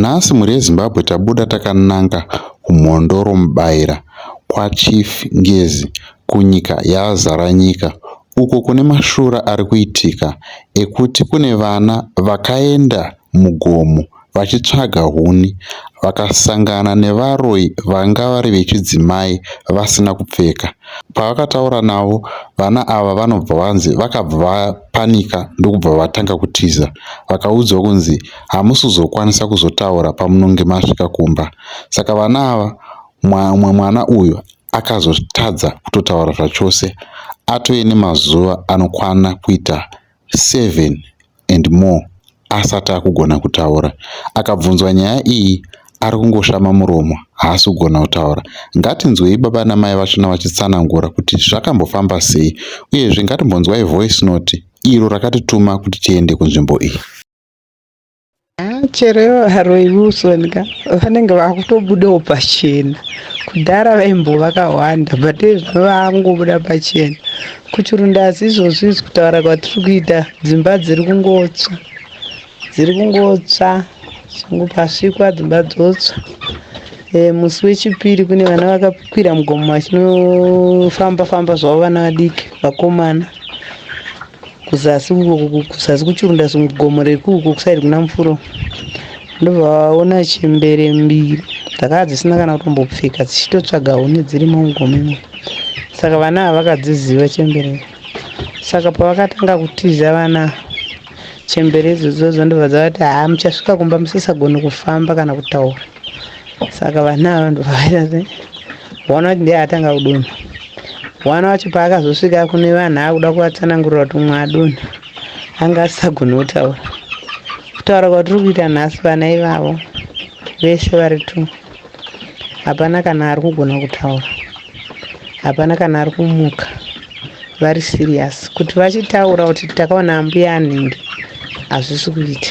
Nhasi mhuri yeZimbabwe tabuda takananga kuMhondoro Mubaira kwaChief Ngezi kunyika yaZaranyika uko kune mashura ari kuitika ekuti kune vana vakaenda mugomo vachitsvaga huni vakasangana nevaroyi vanga vari vechidzimai vasina kupfeka. Pavakataura navo vana ava vanobva vanzi vakabva vapanika ndokubva vatanga kutiza. Vakaudzwa kunzi hamusi kuzokwanisa kuzotaura pamunonge masvika kumba. Saka vana ava mumwe mwana uyu akazotadza kutotaura zvachose atove nemazuva anokwana kuita seven. and more asati akugona kutaura. Akabvunzwa nyaya iyi ari kungoshama muromo haasi kugona kutaura. Ngatinzwei baba namai vachona vachitsanangura kuti zvakambofamba sei uyezve ngatimbonzwai voice note iro rakatituma kuti tiende kunzvimbo iyi. Ah, chero ivo varoyi Wilson ka vanenge vakutobudawo pachena kudhara vaimbo vakawanda but izvo vakungobuda pachena kuchirunda asi izvozvi izvi kutaura kwatiri kuita dzimba dziri kungotsva dziri kungotsva zvangu pasvikwa dzimba dzotsva e, musi wechipiri kune vana vakakwira mugomo vachinofamba famba zvavo vana vadiki vakomana kuzasi uko ku- ku- kuzasi kuchirunda gomo rekuku kusaidi kuna mufuro ndobva vaona chembere mbiri dzakava dzisina kana kutombopfeka dzichitotsvaga huni dzirimo mugomo imomo saka vana ava vakadziziva chembere idzi. saka pavakatanga kutiza vana ava, chembere idzodzodzo ndobva dzavati haa muchasvika kumba musisagoni kufamba kana kutaura saka vana ava ndovaita se one wacho ndiye atanga kudonha one wacho paakazosvika kune vanhu akuda kuvatsanangurira kuti umwe adonha anga asisagoni kutaura kutaura kwatiri kuita nhasi vana ivavo vese vari two hapana kana ari kugona kutaura hapana kana ari kumuka vari serious kuti vachitaura kuti takaona ambuya anhingi hazvisi kuita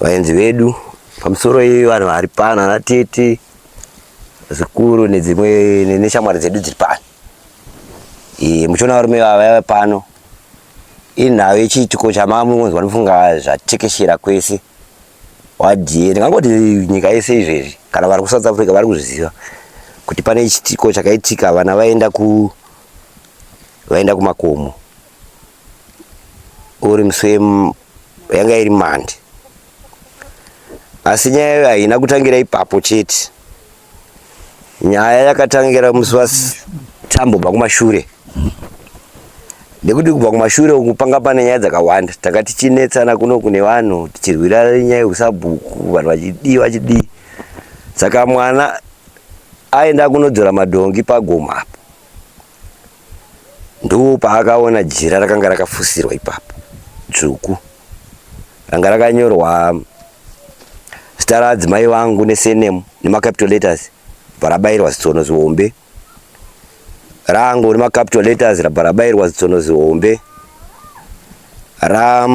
Vaenzi vedu pamusoro iyoyo vanhu vari pano ana tete zvikuru nedzimwe neshamwari dzedu dziri pano e, muchiona varume vavaya pano inhau yechiitiko chamamungonzwa ndifunga zvatekeshera kwese wadie ndingangoti nyika yese izvezvi kana vari kusouth africa vari kuzviziva kuti pane chiitiko chakaitika vana vaenda ku vaenda kumakomo uri muswe yanga iri mandi asi nyaya yayo haina kutangira ipapo chete nyaya yakatangira musi watambobva kumashure nekuti kubva kumashure uku panga pane nyaya dzakawanda tanga tichinetsana kuno kune vanhu tichirwira nyaya yekusabhuku vanhu vachidii vachidii saka mwana aenda kunodzora madhongi pagoma apo Ndoo paakaona jira rakanga rakafusirwa ipapo dzvuku ranga rakanyorwa zita raadzimai vangu nesenemu nemacapital letters bva rabairwa zitsono zihombe rangu nemacapital letters rabva rabairwa zitsono zihombe ra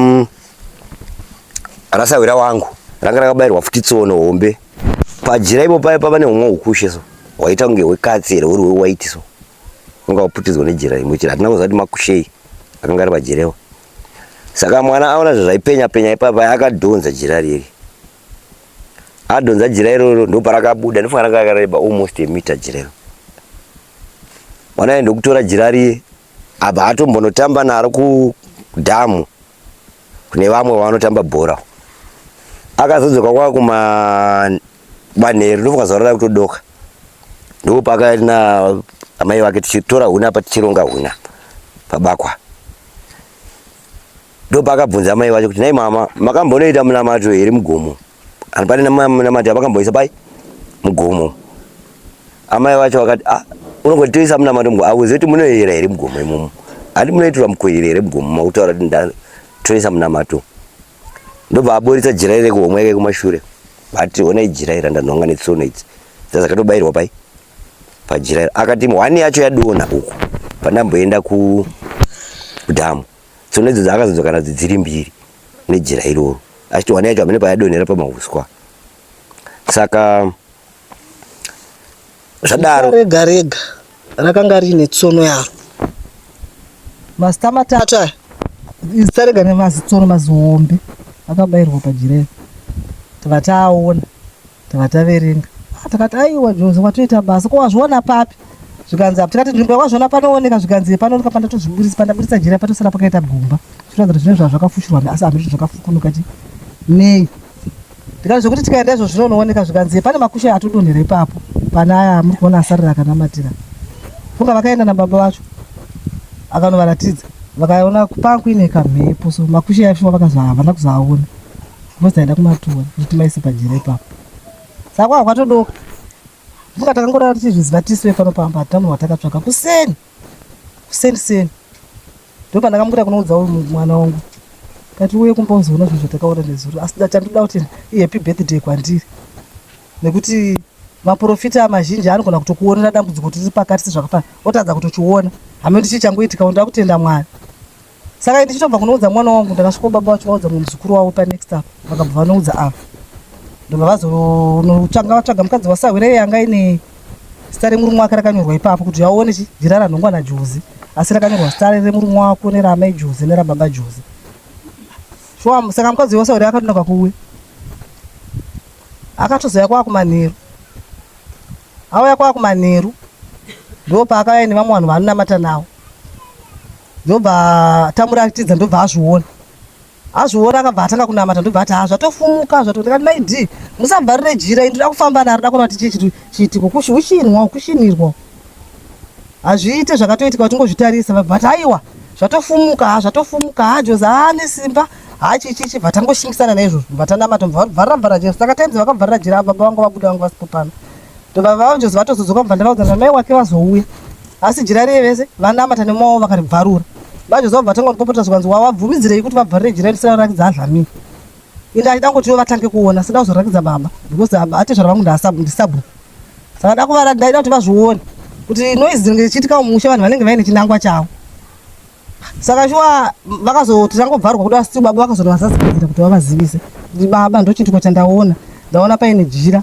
rasahwira wangu ranga rakabairwa futi tsono hombe Pajira ipo paye pava nehumwe hukushe so hwaita kunge hwekatsi here huri hwewaiti so unga waputidzwa nejira imwe chete hatina kuziva kuti makushei akanga ari pajirewo saka mwana aona zvazvaipenya penya ipapa akadhonza jira riri adhonza jira iroro ndoparakabuda ndofanira kakareba almost emita jirero mwana aye ndokutora jira riye abva atombonotamba naro kudhamu kune vamwe vavanotamba bhora akazodzoka kwava kumanheru ndofunga zuva rada kutodoka ndipo paakaiti na amai vake tichitora huna apa tichironga huna pabakwa ndopaakabvunza amai vacho kuti nhai mama makambonoita munamato here mugomo And pane namati avakamboisa pai mugomo. Amai vacho vakati ah unongoti toisa munamato mugomo awuzive kuti munoyera here mugomo imomo. Handi munoitirwa mukoyera here mugomo makutaura kuti ndatoisa munamato. Ndobva aboritsa jira iri kuhomwe yake kumashure. Vati ona ijira iri ndanhonga netsono idzi. Dzazakatobairwa pai pajira iri. Akati hwani yacho yadona uku pandamboenda ku dhamu. Tsono idzo dzakazodzokana dziri mbiri. nejira iroro achitowana yega mune payadonhera pamahuswa saka zvadaro rega rega rakanga riine tsono yaro mazita matatu aya zita rega nemazitsono mazihombe akabairwa pajira iri vataaona Takati taverenga. Takati aiwa Joze watoita basa ko wazviona papi? Zvikanzi apo tikati nzvimbo yawazviona panooneka zvikanzi panooneka pandatozviburitsa pandaburitsa jira patosara pakaita gumba. Zvinoratidza kuti zvinenge zvakafushirwa asi hamiri zvakafukunuka ti nei. Tikati zvekuti tikaenda izvo zvinooneka zvikanzi pane makushe atodonhera ipapo pane aya amuri kuona asarira akanamatira. Funga vakaenda nababa vacho akanovaratidza vakaona panga kuine kamhepo so makushe aifuma vakazoavana kuzoaona Mbuzi aida kumatuwa kuti maise pajira ipapo. Saka wakatodoka. Muka takangorara tichizviziva tisu vepano pamba hatitamu watakatsvaka kuseni. Kuseni seni. Ndipo pandakamukuta kunoudza uyu mwana wangu. Kati uye kumba uzoona zvinhu zvatakaona nezuro. Asi ndachandoda kuti ihappy birthday kwandiri. Nekuti maprofita mazhinji anogona kutokuonera dambudziko tiri pakati sezvakafana otadza kutochiona. Hameno ndichi changoitika ndakutoenda mwari. Saka ini ndichitobva kunoudza mwana wangu ndakasvika baba vacho vaudza mumwe muzukuru wavo panext apo vakabva vanoudza ava ndobva vazonotanga vatsvaga mukadzi wasahwira iye yanga ine zita remurume wake rakanyorwa ipapo kuti aone jira ranhongwa najuzi asi rakanyorwa zita remurume wako neraamai juzi nerababa juzi shuwa saka mukadzi wasahwira akatoenda kwakuwe akatozouya kwakumanheru auya kwakumanheru ndo paakauya nevamwe vanhu vanonamata navo ndobva tamuratidza ndobva azviona azviona akabva atanga kunamata ndobva ati hazvatofumuka ah, zvatondikati mai d musavharire jira ini ndoda kufamba naro da kuona kuti chii chiitiko kushinwa kushinirwa hazviite zvakatoitika vatingozvitarisa vabva vati aiwa zvatofumuka ha ah, zvatofumuka ha ah, jozi haane simba hachichichi bva tangoshingisana naizvozvo bva tanamata bva vharira vhara jira saka tainzi vakavharira jira baba vangu vabuda vangu vasipo pano ndobva vaonjozi vatozodzoka bva ndavaudza kuti mai wake vazouya Asi jira riye vese vanamata nemoyo wavo vakaribvarura. Manje zova vatanga kutipopota zvikanzi wawabvumidzirei kuti vabvarire jira risina kurakidza azvamira. Ende achida kungoti vatange kuona sida kuzorakidza baba because baba atezvara vangu ndisabhuku. Saka dakuvaratidza ndaida kuti vazvione kuti noise dzinenge dzichiitika mumusha vanhu vanenge vaine chinangwa chavo saka shuwa vakazoti tangobvarwa kuda asi baba vakazonovazadzikadzira kuti vavazivise kuti baba ndochiitiko chandaona ndaona paine jira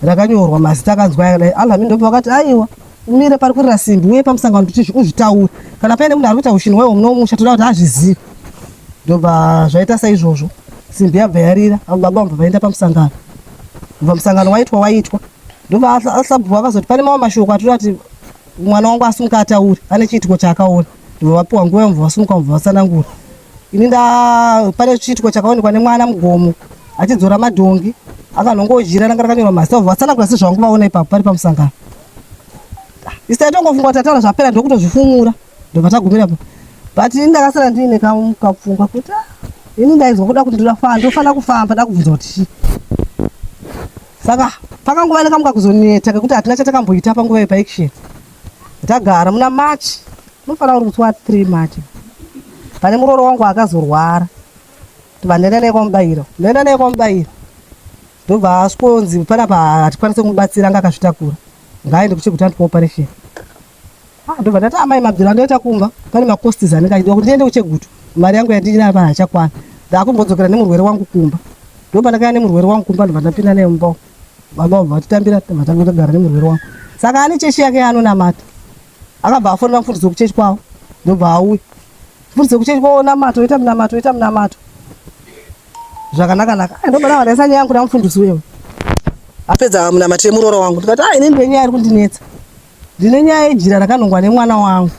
rakanyorwa mazita akanzwa aya kudai alhamini ndobva vakati aiwa umire pari kurira simbi uye pamusangano kuti uzvitaure kana paine munhu ari kuita ushini waiwo mune umusha toda kuti azvizive ndobva zvaita saizvozvo simbi yabva yarira avo baba vabva vaenda pamusangano bva musangano waitwa waitwa ndobva ahlabhuwa akazoti pane mamwe mashoko atoda kuti mwana wangu asumuka ataure ane chiitiko chaakaona ndobva vapiwa nguva yamubva vasumuka mubva vatsanangura ini nda pane chiitiko chakaonekwa nemwana mugomo achidzora madhongi akanongodyira ranga rakanyorwa mazita obva vatsanangura sezvangu vaona ipapo pari pamusangano isai tongofunga kuti ataura zvapera ndokutozvifumura ndobva tagumira pa but ini ndakasara ndiine kapfungwa kuti ah, ini ndaizwa kuda kuti ndinafana ndofanira kufamba ndakubvunza kuti chii saka pakanguva nekamuka kuzoneta kekuti hatina chatakamboita panguva yepaection Ndagara muna March, unofanira uri musi wa 3 March. Pane muroora wangu akazorwara. Ndobva ndaenda naye kwamubairo. Ndaenda naye kwamubairo. Ndobva asvikonzi pana pa hatikwanise kumubatsira anga akazvitakura. Ngaaende kuchekuti andipa operation. Ah, ndobva ndati amai mabvira ndoita kumba pane macosts anenge achidiwa kuti ndiende kuchegutu mari yangu yandinaa pahachakwana ndaakumbodzokera nemurwere wangu kumba ndobva ndakaya nemurwere wangu kumba ndobva ndapinda naye mumba Baba vatitambira vatanga kugara nemurwere wako. Saka ane chechi yake anonamata. Akabva afonera mfundisi wekuchechi kwavo ndobva auya. Mfundisi wekuchechi kwavo namato oita munamato oita munamato. Zvakanaka naka. Ah, ndobva ndavaisa nyaya yangu namfundisi wewe. Apedza munamato yemuroora wangu. Ndikati ah ini ndine nyaya iri kundinetsa. Ndine nyaya yejira rakanongwa nemwana wangu.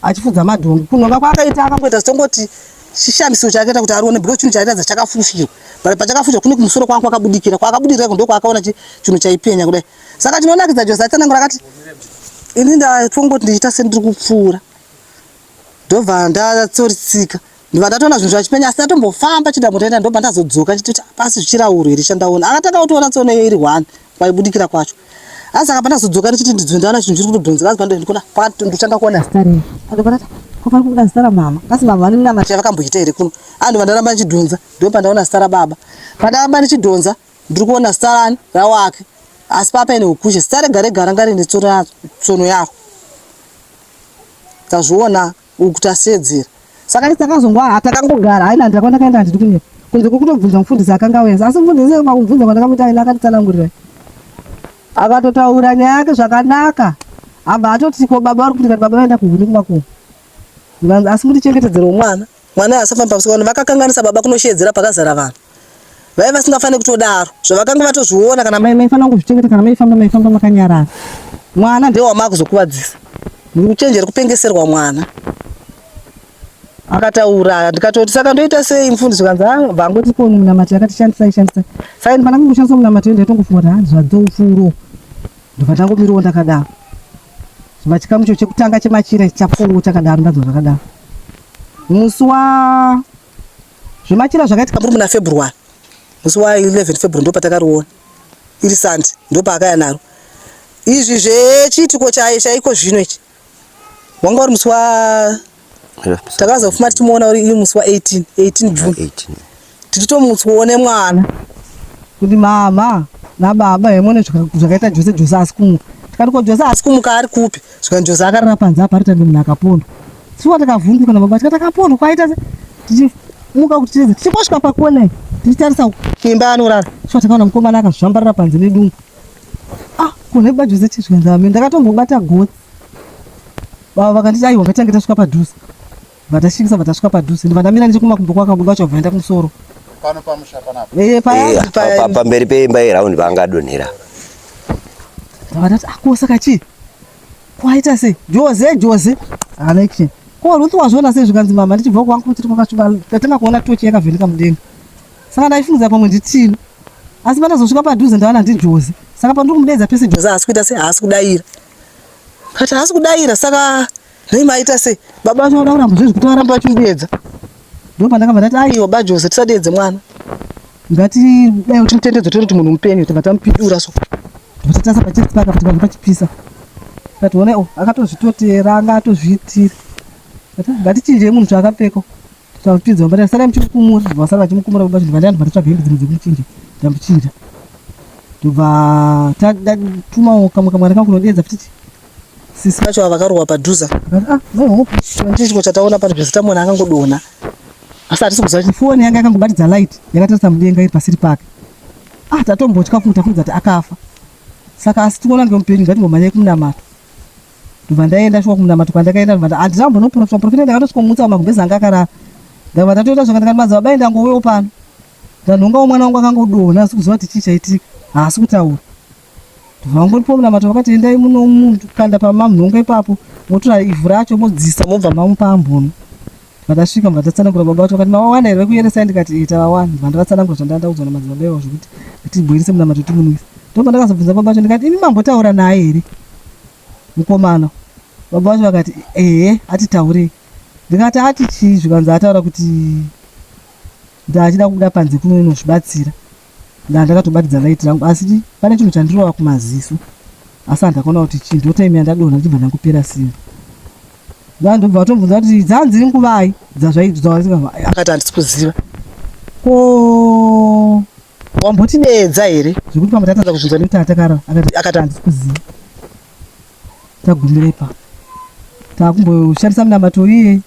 achifudza madhongi kunhonga kwaakaita akangoita zitongoti chishamiso chaakaita kuti arione because chinhu chaairatidza chakafufirwa but pachakafufirwa kune kumusoro kwangu kwakabudikira kwakabudikira kundo kwaakaona chinhu chaipenya kudai saka chinonakidza jose achanangura akati ini ndatongoti ndichiita sendiri kupfuura ndobva ndatsoritsika ndibva ndatoona zvinhu zvachipenya asi ndatombofamba chida mutaenda ndobva ndazodzoka chitoti ah, pasi zvichirauro here chandaona akatanga kutoona tsono iyo iri one kwaibudikira kwacho asi akabva ndazodzoka ndichiti ndidzwe ndaona chinhu chiri kutodhonzera asi pandondikona pakati ndotanga kuona stari andopanati kopari kubuda zita ramama kasi mama vane mnamati yavakamboita here kuno andi vandaramba ndichidhonza ndo pandaona zita rababa pandaramba ndichidhonza ndiri kuona zita rani rawake asi papa ine ukushe zita rega rega ranga rine tsono yaro tazviona uku kuti aseedzere. Saka isu takazongwa ha takangogara haina ndira kwandakaenda handidi kuenda kunze kwekutobvunza mufundisi akanga auyenza asi mufundisi ese pakumubvunza kwandakamuita aina akanditsanangurira akatotaura nyaya yake zvakanaka abva atoti ko baba vari kuti kati baba vaenda kuhuni kumakumu asi mutichengetedzero mwana mwana asafamba pasikana vakakanganisa baba kunosheedzera pakazara vanhu vaive vasingafaniri kutodaro zvavakanga vatozviona kana maifanira kuzvichengeta kana maifamba maifamba makanyarara mwana ndiye wamakuzokuvadzisa muchenjeri kupengeserwa mwana akataura ndikatoti saka ndoita sei mfundisi kanzi vangoti ko munamati yakatishandisai shandisai saini pana kungoshandisa munamati yoenda itongofunga kuti hanzi zvadzoufuro ndokatangomiriwo ndakadaro zvima chikamu cho chekutanga chemachira chapfuwo chakadaro ndadzwa zvakadaro musi wa Zvemachira zvakaitika muri muna February musi wa 11 February ndipo patakariona iri Sunday ndipo paakaya naro izvi zvechiitiko chaye chaiko zvino ichi wanga uri musi wa takazofuma tichimuona uri musi wa 18 18 June tichitomutswone mwana kuti mama nababa hemone zvakaita Jose Jose asi kumuka tikati ko Jose asi kumuka ari kupi zvikanzi Jose akarara panze apa ari tange munhu akapondwa Suwa takavhunduka nababa tika takapondwa kwaita tichimuka kuti ticheze tichingosvika pakona tichitarisa imba anorara suwa takaona mukomana akazvambarira panze nedungu ah kune baba Jose chizvikanza amene ndakatombobata gotsi baba vakanditi aiwa ngatange tasvika padhuze vatasvikisa vatasvika padhuze ndivandamira nechekumakumbo kwakabuda vachavhaenda kumusoro pano pamusha panapa eh, eh, pamberi peimba iraundi vangadonhera ndavadati akosa ah, kachii Kwaita sei? Joze, Joze. Alexe. Ko Ruth wazviona sei zvikanzi mama ndichibva kwangu kuti tiri kwakashuva tatanga kuona tochi yakavheneka mudenga. Saka ndaifungidzira pamwe nditino. Asi pandazosvika padhuze ndaona ndi Joze. Saka pandiri kumudeedza pese Joze haasi kuita sei haasi kudaira. Kati haasi kudaira saka nei maita sei? Baba vacho vanoda kuramba zvezvi kuti varambe vachimudeedza. Ndipo pandakabva ndati aiwa baJoze tisadeedze mwana. Ngatidai kuti mutendedzo tiri kuti munhu mupenyu tobva tamupindura so. Tobva tatasa pachisi paka kuti pabva pachipisa. Tationa oh akatozvitotera anga atozviitira. Ngatichinjei munhu chaakapfeka. Tavapinza vambari vasara muchimukumura vasara vachimukumura baba zvinhu vandani vatotsvaga hembe dzimwe dzekuchinja tamuchinja tobva tatuma kamwe kamwana kangu kunodeedza kuti sisi vacho ava vakarohwa padhuze ah, ndicho chataona pano zvese tamona akangodona asi hatisi kuziva kuti foni yanga yakangobatidza light yakatarisa mudenga iri pasiri pake ah tatombotya futi tafunza kuti akafa saka asi tinoona ngemupenyu ngatimbomhanyai kumunamato ndobva ndaenda shuwa kumunamato kwandakaenda ndobva handina kumbonoprofita profita ndakatosvikomutsa wamagumbezi anga akarara ndabva ndatoita zvaka ndikatimadza babai ndangowewo pano ndanhongawo mwana wangu akangodona asi kuziva kuti chii chaitika haasi kutaura vangoripo munamato vakati endai muno munhu kanda pamamhongo ipapo motora ivhu racho modzisa mobva mamupa ambono vakasvika mva tatsanangura baba vacho vakati mavawana here vekuyeresai ndikati ita vawana mva ndavatsanangura zvandandaudzwa namadzibaba ivo zvekuti tibhoirise munamato timunwisa ndobva ndakazobvunza baba vacho ndikati imi mambotaura naye here mukomana baba vacho vakati ehe atitaurei ndikati ati chii zvikanzi ataura kuti ndaachida kubuda panze kuno inozvibatsira ndaa ndakatobatidza light rangu asi pane chinhu chandirova kumaziso asi handakaona kuti chii ndotaime yandadonha ndichibva ndangopera simba ndaa ndobva vatobvunza kuti dzanzi nguvai dzazvaidzaakati handisi kuziva ko wamboti nedza here zvekuti pamwe tatadza kubvunza nekuti atakara akati handisi kuziva tagumire pa takumboshandisa munamato iye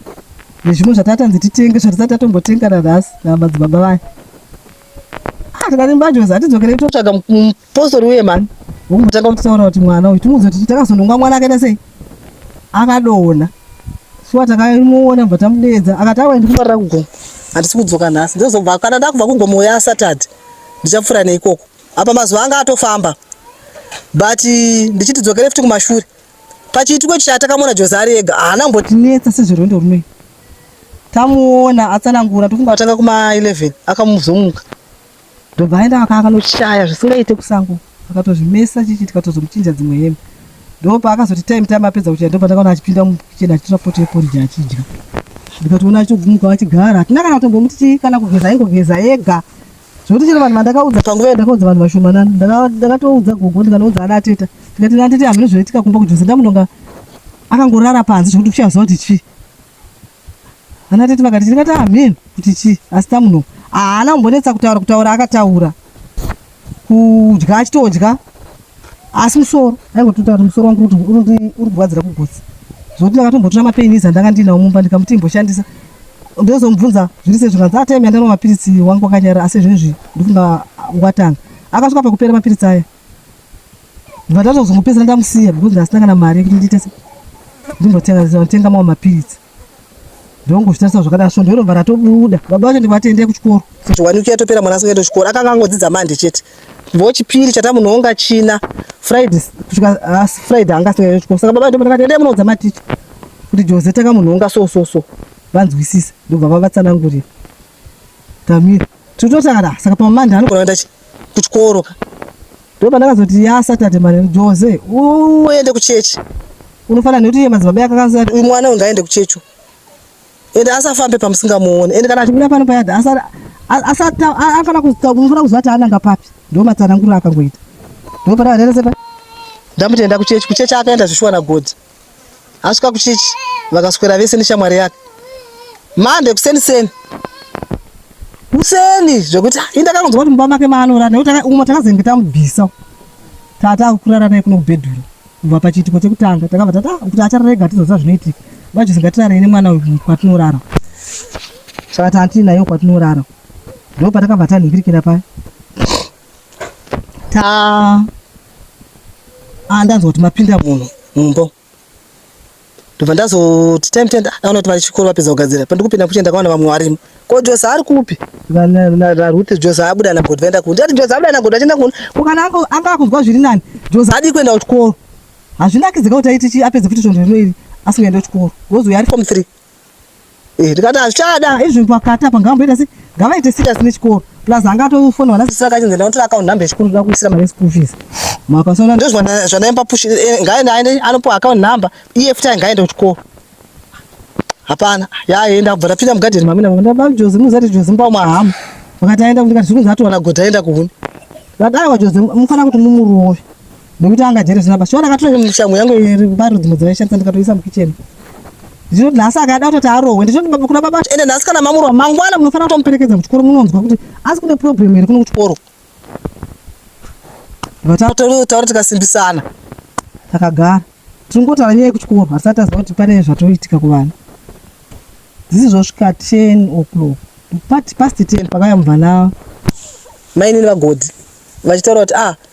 nezvimwe zvatatanzi titenge zvatisati tatombotengana nhasi namadzibaba vaya Ah, tikarimba jozi hatidzokerei totsvaga mupostori uye mani wekumbotanga kutaura kuti mwana uyu timuudze kuti takazononga mwana akaita sei akadona shuwa takamuona kubva tamudeedza akati awa ndikumarira kugomo handisi kudzoka nhasi ndozobva kana ndakubva kugomo uya asatadhi ndichapfuura neikoko apa mazuva anga atofamba but ndichiti dzokere futi kumashure Pachiitiko ichi takamuona Joze ari ega haana kumbotinetsa sezverwendo runoita. Tamuona atsanangura tofunga atanga kuma 11 akamuzomuka ndobva aenda vaka akanoshaya zvisingaite kusango akatozvimesa chichi tikatozomuchinja dzimwe hembe ndopa akazoti time time apedza kuchaya ndopa ndakaona achipinda mukicheni achitora poto yeporiji achidya ndikatoona achitobvumuka achigara hatina kana kutombomuti chii kana kugeza aingogeza ega Zvekuti chero vanhu vandakaudza panguva yandakaudza vanhu vashomanana ndakatoudza gogo ndikanoudza ana ateta ndikati ana atete hamuna zvinoitika kumba kujose ndamunonga akangorara panze zvekuti kuchaziva kuti chii ana atete vakati ndingati amen ah, kuti chii asi tamunonga haana kumbonetsa kutaura kutaura akataura kudya achitodya asi musoro aingotota kuti musoro wangu uri kurwadzira kugotsi zvokuti ndakatombotora mapainizi andanga ndiinawo mumba ndikamuti imboshandisa ndozomubvunza zviri sezvo kanzi atime andanwa mapiritsi wangu wakanyara asi zvinezvi ndifunga watanga akasvika pakupera mapiritsi aya ndibva ndatozomupedzera ndamusiya because ndasina kana mari yekuti nditese ndimbotenga mamwe mapiritsi ndongozvitarisa zvakadaro svondo irobva ratobuda baba vacho ndivatende kuchikoro kuti wani uki yatopera mwana asikaenda kuchikoro akanga angodzidza mande chete vo chipiri chatamunoonga china friday kusvika ah, friday anga asikaenda kuchikoro saka baba ndomati endai munoudza maticha kuti jose takamunhonga so so so vanzwisise ndobva vavatsanangurira Tamira. Totosara saka pa Monday anogona kuenda kuchikoro ka. Ndipo pandakazoti ya Saturday manje Jose uende kuchechi. Unofanira nekuti iye madzibaba yake akaziva uyu mwana uyu ngaende kuchechi. Ende asafambe pamusingamuone. Ende kana achimira pano payada asara asati afana kuzofanira kuziva kuti ananga papi. Ndipo matsanangura akangoita. Ndipo pandakazoti ndamutenda kuchechi kuchechi akaenda zvishuwa na God. asvika kuchechi vakaswera vese neshamwari yake mande kuseni seni kuseni zvekuti ah, indakakunzwa kuti mumba make maanorara nekuti umwe takazenge tamubvisa tata kurara naye kuno kubhedhuru kubva pachiitiko chekutanga takabva tata ah, kuti achararega tizoziva zvinoitika vachizingatirarei nemwana uyu kwatinorara saka tati nayo kwatinorara ndo patakabva tanhingirikira paya ta ah, ndanzwa kuti mapinda munhu mumbo ndobva ndazoti time tenda ndaona kuti vachikoro vapedza kugadzira pandikupinda kuchenda kaona vamwe varimo ko jose ari kupi naruti jose abuda nagoda vaenda kuno ndati jose abuda nagoda achienda kuno ko kana anga akunzwa zviri nani jose adii kuenda kuchikoro hazvinakidze ka kuti aiti chi apedze futi svondo rino iri asingaende kuchikoro gozi uyo ari form three Eh, ndikati hazvichada izvi pakata pangamboita se ngavaite serious nechikoro plus anga atofona vana sisi vakachinzi ndinotora account number yechikoro ndoda kuisira mari school fees mapasona ndo zvandaipa push eh, ngaende aende anopuwa account number iye futi ayi ngaende kuchikoro hapana yaenda kubva tapinda mugadheni mamina ndaba jozi muzati jozi mba mahamu vakati aenda kuti kati zvikunzi atowana godha aenda kuhuni vakati aiwa jozi mufana kuti mumurove Nekuti anga jere zina basi. Shona katura nemu shangu yangu iri baro dzimwe dzine chance ndikatoisa mu kitchen. Zvino nhasi akada kuti arohwe ndizvo baba kuna baba ende nhasi kana mamuro mangwana munofanira kutomuperekedza kuchikoro munonzwa kuti asi kune problem here kuno kuchikoro. Vatauri tauri tikasimbisana. Takagara. Tingotaura nyaya yekuchikoro asati aziva kuti pane zvatoitika kuvana. Zvizi zvosvika 10 o'clock. Past 10 pakaya muvana mainini vagodi vachitaura kuti ah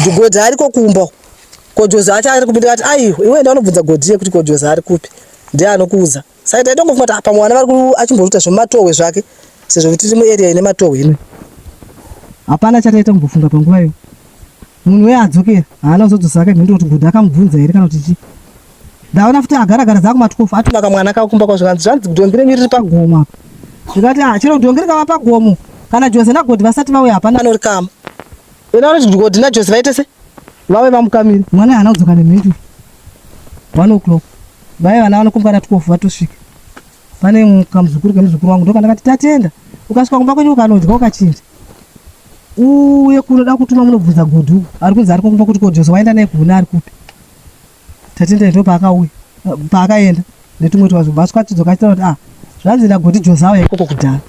Ndigodzi ariko kumba uko. Kojozi acho ari kupi ndikati aiwa iwe enda unobvunza Godie kuti Kojozi ari kupi. Ndiye anokuudza. Saka taitongofunga kuti apa mwana vari ku- achimboruta zvematohwe zvake sezvo kuti tiri muarea ine matohwe ino. Hapana chataita kumbofunga panguva iyo. Munhu uye adzokera haana kuzodzosa hake mhinduro kuti Godie akamubvunza here kana kuti chii. Ndaona futi agara gara dzaa kumatwofu atuma kamwana kavo kumba kwavo zvikanzi zvanzi dongi renyu riri pagomo apa. Ndikati ah chero dongi rikava pagomo kana Joze naGodie vasati vauya hapana anorikama. Vena vanoti kuti koti naJose vaite se vave vamukamiri. Mwana haana kudzoka nemhiri. One o'clock. Vaya vana vanokombwa na 12 vatosvika. Pane kamuzukuru kemuzukuru wangu ndokandakati tatenda. Ukasvika kumba kwenyu ukanodya ukachinja. Uye kunoda kutuma munobvunza godhu. Ari kunzi ari kumba kuti koJose waenda naye kuhuna ari kupi. Tatendai ndopaakauya paakaenda netumwe twazvo bva twatidzoka achitaura kuti ah zvanzi nagoti jozaa yaikoko kudhara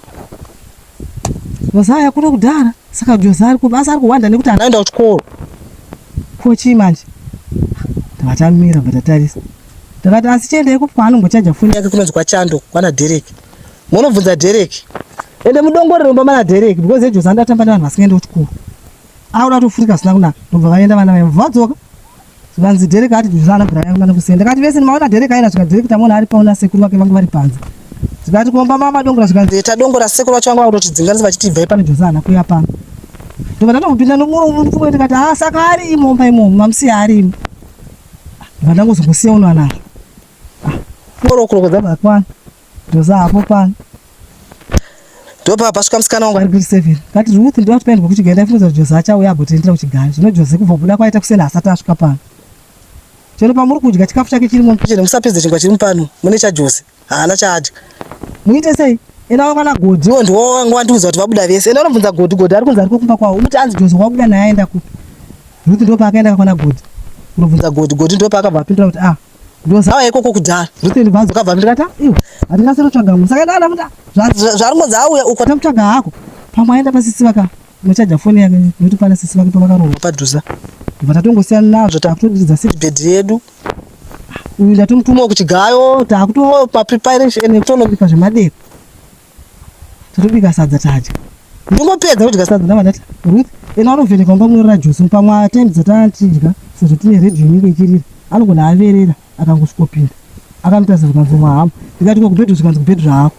jozaa yakuno kudhara saka jozaa ari kubasa ari kuhwanda nekuti hana aenda kuchikoro ko chii manje takatamira bva tatarisa ndakati asi chienda ikupi kwaanongochaja foni yake kunonzi kwachando kwana derek monobvunza derek ende mudongore romba mana derek because ejoza ndatamba nevanhu vasingaende kuchikoro aura tofurika asina kunaka ndobva vaenda vana vaya vadzoka Zvikanzi Derek ati ndizvo ana Brian vana kusenda. Ndakati vese ndimaona Derek aenda zvikanzi Derek tamuona ari paona sekuru vake vangu vari panze. Zvikati kuomba mama dongora zvikanzi eta dongora sekuru vacho vangu vakutotidzinganisa vachiti ibvai pano Jose ana kuya pano. Ndobva ndatomupinda nomuro uno ndikuti ndikati ah saka ari imo mba imo mamusiya ari imo. Ndobva ndangozongosiya uno ana. Ah. Moro kurokodza vakwana. Ndoza hapo pano. Ndopa pasvika musikana wangu ari grade seven. Kati Ruth ndiwa tipaendwa kuchigari ndaifunza kuti Joza achauya agotendera kuchigari. Zvino Joza kubva kubuda kwaita kuseni asati asvika pano. Chero pamuri kudya chikafu chake chiri muno. Chero musapedze chingwa chiri mupano. Mune cha Joza. Haana chaadya. Muite sei? Ena wakwana Godhi. Iwo ndiwo wangu wandiudza kuti vabuda vese. Ena unobvunza Godhi, Godhi ari kunzi ari kumba kwawo. Unoti anzi Joza wabuda naye aenda kupi? Ruth ndopa akaenda kakwana Godhi. Unobvunza Godhi, Godhi ndopa akabva apindura kuti ah ndozava ikoko kudhara ndotende bhazi ukabva ndikata iwe handikasiro tsvaga munhu saka ndada kuti zvaringonzi auya uko tamutsvaga hako pamwe aenda pasisi vaka machaja foni yake nekuti pana sisi vake pavakarohwa padhuza bva tatongosiyana nazvo takutoridza seedbed yedu uyu ndatomutuma kuchigayo takutopa preparation nekutonobipa zvemadeko Totobika sadza tadya. Ndingopedza kudya sadza ndava ndati Ruth ena anovheneka mumba munorara Josi mupamwe atime dzatanga tidya sezvo tine radio inenge ichirira anogona averera akangosvikopinda akanditarisa zvikanzi mwahamu ndikati ko kubhedhu zvikanzi kubhedhu zvahako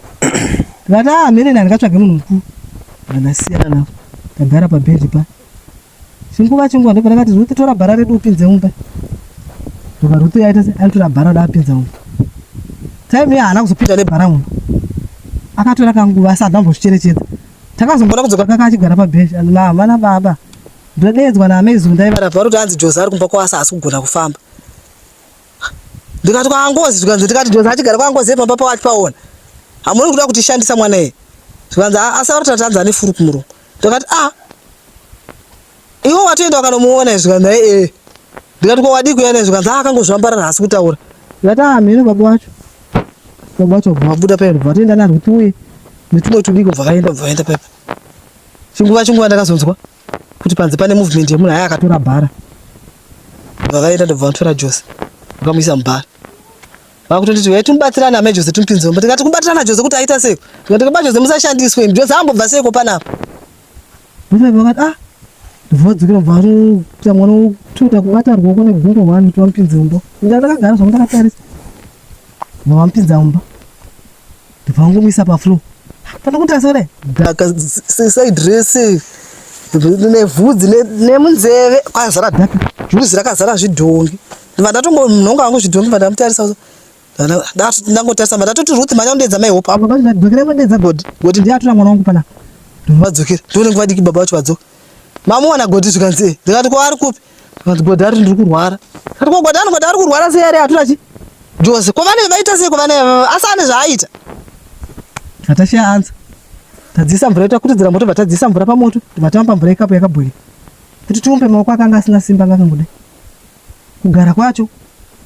ndikati ah mhereni handikatsvage munhu mukuru ndandasiyana navo ndagara pabhedhi pa Chinguva chinguva ndobva ndakati Ruth tora bhara redu upinze mumba. Ndobva Ruth yaita se anotora bhara da apinza mumba. Time iya haana kuzopinda nebhara mumba. Akatora kanguva asati ambozvicherechedza. Takazomboda kudzoka kaka achigara pabench and mama na baba. Ndodeedzwa na amai Zunda iva. Ndabva kuti anzi Joza ari kumba kwasa haasi kugona kufamba. Ndikati kwa Angozi zvikanzi ndikati Joza achigara kwa Angozi pamba pawacho paona. Hamuri kuda kutishandisa mwana iye. Zvikanzi asa vari tatanza ane furu kumurungu. ndakati ah iwe watoenda wakanomuona izvo kana naye ee ndikati ko wadii kuya naizvo kanzi ah, akangozvambarara haasi kutaura ndikati ah mheno baba wacho baba wacho vabuda paenda vatoenda nazvo kuti uye netumwe tudiko bvakaenda bvakaenda paipa chinguva chinguva ndakazonzwa kuti panze pane movement yemunhu aya akatora bhara bvakaenda ndobva vatora jose vakamuisa mubhara vakutonditi uya timubatsirane amai jose timupinze mumba tikati kubatsirana jose kuti aita sei tikati kaba jose musashandiswe imi jose ambobva seiko panapa vakati ah ndivadzikira bva anoita mwana wotoita kubata ruoko negumbo hwani kuti vamupinze mumba ndakagara zvangu ndakatarisa vamupinza mumba ndobva wangomuisa pafloor fana kuti asare dhaka side rese nevhudzi nemunzeve kwazara dhaka vhudzi rakazara zvidhongi ndobva ndatongo munhu wangu wangu zvidhongi bva ndamutarisa ndangotarisa bva ndatoti ruth manya undiedza mai hope apa vadzokera vandiedza godi godi ndiye atora mwana wangu pana vadzokera ndione nguva diki baba vacho vadzoka mamuwana godi zvikanzi ndikati kwaari kupi Vanzi Godhari ndiri kurwara. Ndiri ko Godhari Godhari kurwara sei ari atura chi? Jose ko vane vaita sei ko vane asi ane zvaaita. Natasha anza. Tadzisa mvura ita kuti dzira moto vatadzisa mvura pamoto vatamba mvura ikapo yakabhoila. Kuti tiumbe maoko akanga asina simba vakangoda. Kugara kwacho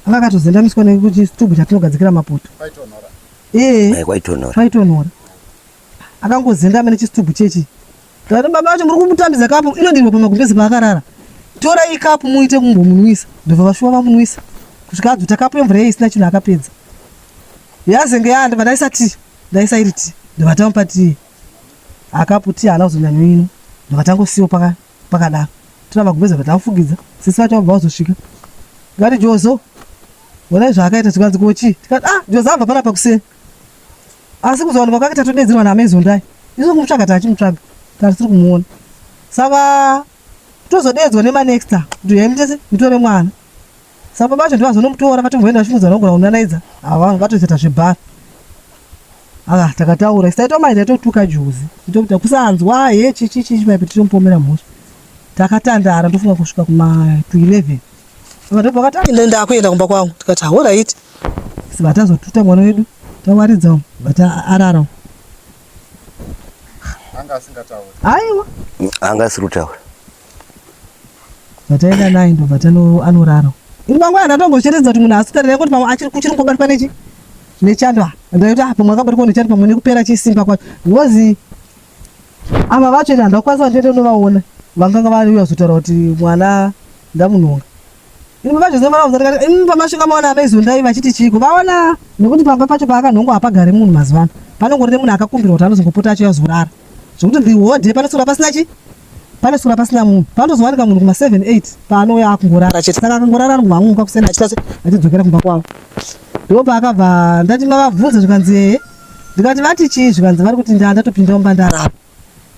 anga akatozendamiswa nekuti chitubu chatinogadzikira mapoto. Kwaitonora. Eh. Kwaitonora. Kwaitonora. akangozengama nechistubhu chechi tati baba vacho muri kumutambidza kapu inodirwa pamagumbezi paakarara torai kapu muite kumbomunwisa ndobva vashuwa vamunwisa kusvika adzota kapu yemvura iye isina chinhu akapedza yazenge yandova ndaisa ti ndaisa iri ti ndovatamupa tii akapu ti haana kuzonyanyo ino ndovatangosiwo pakadaro tona magumbezi vatafugidza sisi vacho vabva vazosvika ngati jozo onai zvaakaita tikanzi kochii tikati ah jozo abva panapa kuseni asi kuzowanikwa kwake tatodedzerwa naamezondai isu kumutsvaga tachimutsvaga tatisiri kumuona saka tozodedzwa nemanexta kuti yai mutese mutore mwana saka baba vacho ndivazonomutora vatomboenda vachimudza nogona kunanaidza hava vatozoita zvebhara aa ah, takataura isaitwa mai taitotuka juzi itokuta kusanzwa he chichichichi maipi titomupomera mhosva takatandara ndofunga kusvika kuma 211 vakati ndakuyenda kumba kwangu tikati hauraiti Sibata zotuta mwana wedu tawaridza umu but arara umu. Anga asingatauri. Aiwa. Anga asiri kutaura. Vataenda naye ndo vatano anorara. Ini mangwana ndatongocheredza kuti munhu asitarira kuti pamwe achiri kuchiri kubatwa nechi nechandwa. Ndaiti ah pamwe akabatwa nechandwa pamwe nekupera chisimba kwacho. Ngozi ava vacho enda ndakwanisa ndiende ndovaona. Vanganga vari uya zotaura kuti mwana ndamunhonga. Ini baba Jose vana kuzati kati ini pamasvika maona amai Zondai vachiti chiiko vaona nekuti pamba pacho paakanhongwa hapagare munhu mazuva ano panongorine munhu akakumbirwa kuti anozongopota achiuya kuzorara zvekuti the whole day panosura pasina chi panosura pasina munhu panozowanika munhu kuma 7 8 paanouya akungorara chete saka akangorara ari kuvanguka kusena achitase achidzokera kumba kwavo ndipo paakabva ndati mavabvunza zvikanzi ee ndikati vati chii zvikanzi vari kuti ndaa ndatopinda umba ndarara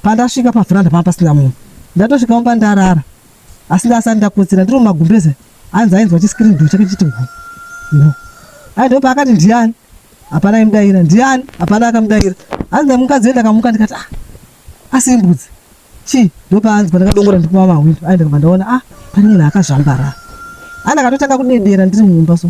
pandasvika pavhuranda panga pasina munhu ndatosvika umba ndarara asi ndasati ndakotsira ndiri mumagumbeze anzi ainzwa chiscreen door chake chiti gu gu ai ndo paakati ndiani hapana aimudaira ndiani hapana akamudaira anzi ndamukadzi wenda akamuka ndikati ah asi imbudzi chii ndo paanzwa ndakadongora ndikuma mahwindo ai ndikabva ndaona ah pane munhu akazvambara ai ndakatotanga kudedera ndiri mumba so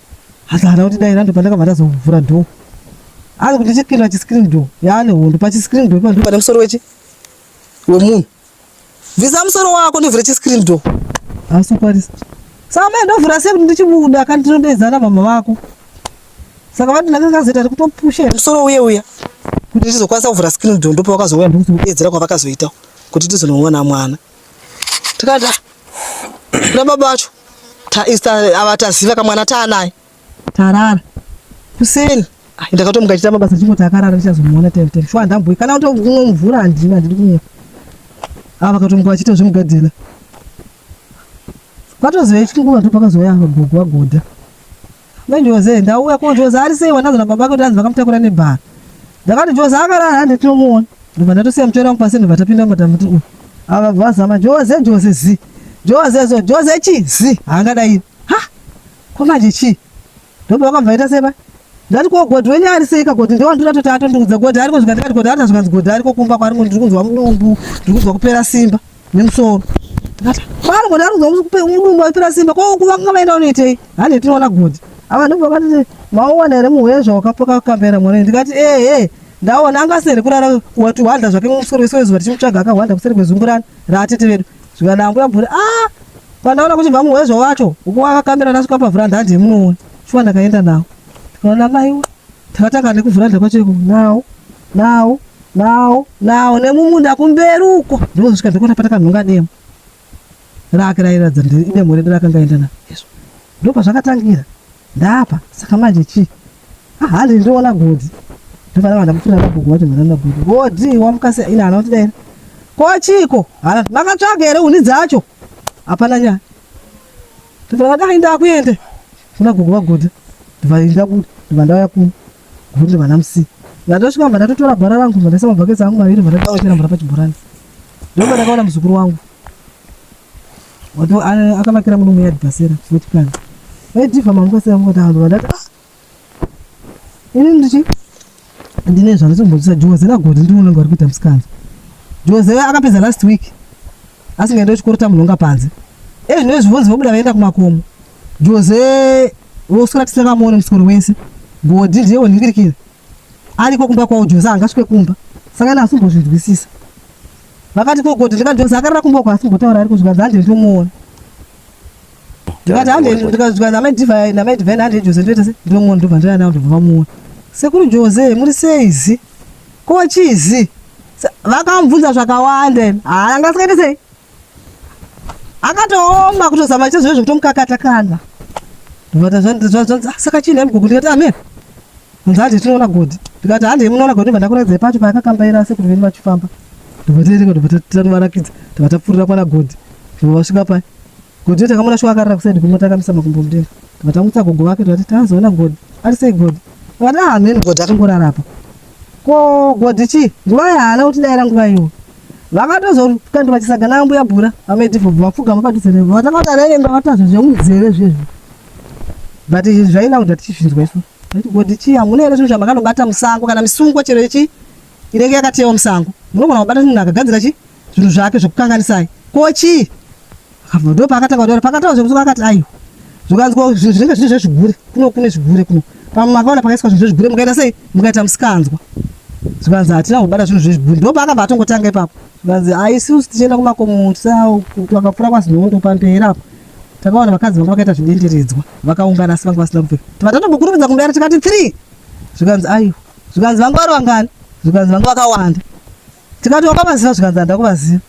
asi hana kuti dai rando pandakabva ndazovhura door ari kuti chipinda chiscreen door yaane hondo pachiscreen door ipa ndopane musoro wechi wemunhu bvisa musoro wako ndovhura chiscreen door asi ukwarisa saka mai ndovhura sei kuti ndichibuda kandi ndinodedzana mama vako saka vati ndanga kazoita rikutopusha musoro uye uya kuti ndizokwanisa kuvhura screen door ndopawakazouya ndikuti kudedzera kwavakazoita kuti ndizonomwana mwana Tikada na baba vacho ta insta ava taziva kamwana taanaye tarara kuseni ah, ndakatomuka chita mabasa chimwe takarara ndichazomuona tete shwa ndambuyi kana kuti kumwe mvura handina handidi kunyepa ava vakatomuka vachiita zvemugadzira kwatoziva chinguvatu pakazouya gogo vagoda Ndojoze ndauya ko Joze ari sei wandanzi na baba kuti anzi vakamutakura nebhara. Ndakati Joze akarara hande tinomuona. Ndobva ndatosiya muchero wangu pasi ndobva tapinda mota muti uyu. Ava vazama Joze Joze zi. Joze zo Joze chi zi. Haangadai. Ha? Ko manje chi? Ndobva vakabva ita seba. Ndati ko godhi wenyu ari sei kagodhi ndewandira toti atondiudza godhi ariko zvikanzi kati godhi arina zvikanzi godhi ariko kumba kwari ndiri kunzwa mudumbu ndiri kunzwa kupera simba. nemusoro ndikati pano kona arikuda kukupe mudumbu aipira simba ko kuvanga vaenda unoitei hande tinoona godi ava ndipo vakati maowana here muhuya zvawakapoka kambera mwana ndikati ehe ndaona angasere kurara wati hwanda zvake mumusoro iso izuva tichimutsvaga akahwanda kuseri kwezungurana raatete vedu zvikana ambuya bvuri a pandaona kuti mamuhuya zvawacho ukuwakakambira nasuka pavhura ndandi yemunoona shuwa ndakaenda nawo tikaona maiwe takatanga nekuvhura ndakwacho iko nawo Now, now, now, nemumunda kumberi uko. Ndozvika ndikona pata kanhunga demo. Rake rairatidza kuti ine murendo rakanga enda na. Yesu. Ndopa zvakatangira. Ndapa, saka manje chi. Ah, handi ndiona godzi. Ndopa na vana mufuna vabugu wati mwana na godzi. Godzi wamukase ina anoti dai. Ko chiko? Hala, makatsvaga here uni dzacho? Hapana nyaya. Ndivana dai ndakuende. Kuna gugu vagodzi. Ndivana ndakuda. Ndivana ndauya kuno. Kuti vana msi. Ndatosvika mva ndatotora gwara rangu mva ndaisa mabhaketsi angu maviri mva ndakawachera mvura pachibhorani. Ndokuva ndakaona muzukuru wangu. Wato akavakira muno muyadi pasera wechikana. Vaidhivha mangu pasera mungu tahambo vandati ah. Ini ndichi ndine zvanditombodzisa Joze nagoti ndiri unenge wari kuita msikanzi. Joze akapedza last week asingaenda kuchikoro tamunhonga panze. Ezvinove zvivonzi vobuda vaenda kumakomo. Jose woswera tisakamuone musikoro wese godhi ndiye wonhingirikira ariko kumba kwawo Jose angasvike kumba saka ina asimbozvinzwisisa vakati ko godhi ndikati Jose akarara kumba uko asimbotaura ariko zvikanzi handei ndomuona ndikati handei ndikati namai divai namai divai handei Jose ndoita se ndomuona ndobva ndoenda navo ndobva vamuona sekuru Jose muri seizi ko chizi vakamubvunza zvakawanda haa angasikaita sei akatooma kutozama chazvo zvekutomukakata kana zvonzi saka chii nhaimi gogo ndikati amene kunzi handi tinoona godhi ndikati handi munoona godhi ndibva ndakuraidzai pacho paakakambaira ase kuti veni vachifamba ndibva tiereka ndibva tatovarakidza ndibva tapfuurira kwana godhi ndibva vasvika pai godhi yo takamona shuwa akarara kusaidi kumwe takamisa makumbo mudenga ndibva tamutsa gogo vake ndivati tazoona godhi ari sei godhi vati ah mheni godhi akangorara apa ko godhi chii nguva yaana kuti daira nguva iyoyo vakatozokandwa chisaga naambuya bura vamedhivhobvu vapfugama padhuze nevo vatavakareenda vatazva zvemunzeve zvezvo but zvaina kuti tichisvinzwa isu kuti chii hamuna here zvinhu zvamakanobata musango kana misungwa chero ichi inenge yakatewa musango munogona kubata chinhu akagadzira chi zvinhu zvake zvekukanganisai ko chii apo ndo paakatanga kutaura pakataura zvekusuka akati aiwa zvikanzwa zvinenge zviri zvezvigure kuno kune zvigure kuno pamwe makaona pakaiswa zvinhu zvezvigure mukaita sei mukaita musikanzwa zvikanzi hatina kubata zvinhu zvezvigure ndo paakabva atongotanga ipapo zvikanzi aisusu tichienda kumakomo tisawo vakapfura kwazinondo pamberi apo takaona vakadzi vanga vakaita zvidenderidzwa vakaungana asi vanga vasina kupfeka tivatatokukurumidza kumbera tikati three zvikanzi aiwa zvikanzi vanga vari vangani zvikanzi vanga vakawanda tikati wakabaziva zvikanzi handa kubaziva